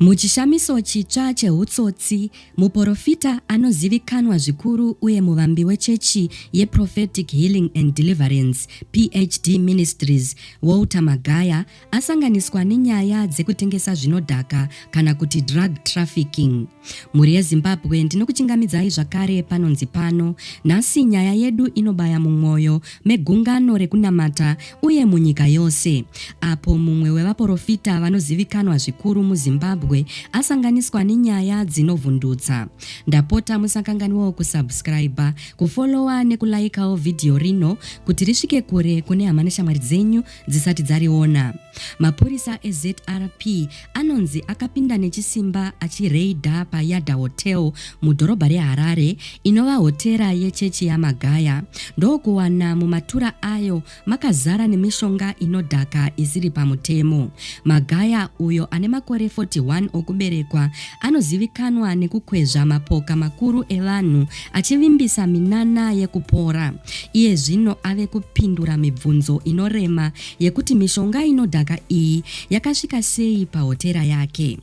Muchishamiso chitsva chehutsotsi, muporofita anozivikanwa zvikuru uye muvambi wechechi yeProphetic Healing and Deliverance, PHD Ministries, Walter Magaya asanganiswa nenyaya dzekutengesa zvinodhaka kana kuti drug trafficking. Mhuri yeZimbabwe ndinokuchingamidzai zvakare panonzi pano. Nhasi nyaya yedu inobaya mumwoyo megungano rekunamata uye munyika yose. Apo mumwe wevaporofita vanozivikanwa zvikuru muZimbabwe asanganiswa nenyaya dzinovhundutsa. Ndapota musakanganiwo kusubscriber, kufollowa nekulaikawo vhidhiyo rino kuti risvike kure kune hama neshamwari dzenyu dzisati dzariona. Mapurisa eZRP anonzi akapinda nechisimba achireidha paYada Hotel mudhorobha reHarare inova hotera yechechi yaMagaya ndokuwana mumatura ayo makazara nemishonga inodhaka isiri pamutemo. Magaya uyo ane makore 41 okuberekwa anozivikanwa nekukwezva mapoka makuru evanhu achivimbisa minana yekupora. Iye zvino ave kupindura mibvunzo inorema yekuti mishonga inodhaka iyi yakasvika sei pahotera yake.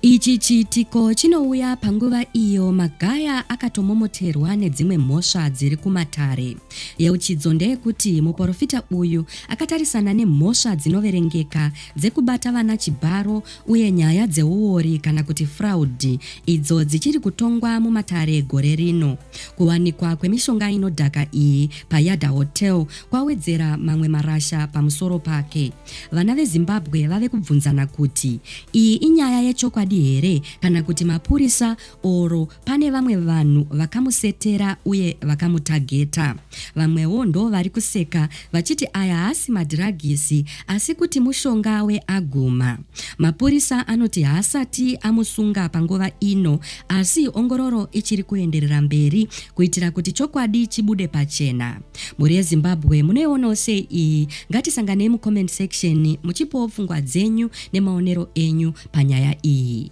Ichi chiitiko chinouya panguva iyo Magaya akatomomoterwa nedzimwe mhosva dziri kumatare. Yeuchidzo ndeyekuti muporofita uyu akatarisana nemhosva dzinoverengeka dzekubata vana chibharo, uye nyaya dzeuori kana kuti fraud idzo dzichiri kutongwa mumatare gore rino. Kuwanikwa kwemishonga inodhaka iyi paYada Hotel kwawedzera mamwe marasha pamusoro pake. Vana veZimbabwe vave kubvunzana kuti iyi inyaya yechokwadi here kana kuti mapurisa or pane vamwe vanhu vakamusetera uye vakamutageta. Vamwewo ndo vari kuseka vachiti aya haasi madhiragisi asi kuti mushonga weaguma. Mapurisa anoti haasati amusunga panguva ino asi ongororo ichiri kuenderera mberi kuitira kuti chokwadi chibude pachena. Mhuri yeZimbabwe munoionawo sei iyi? Ngatisanganei mucomment section muchipowo pfungwa dzenyu nemaonero enyu panyaya iyi.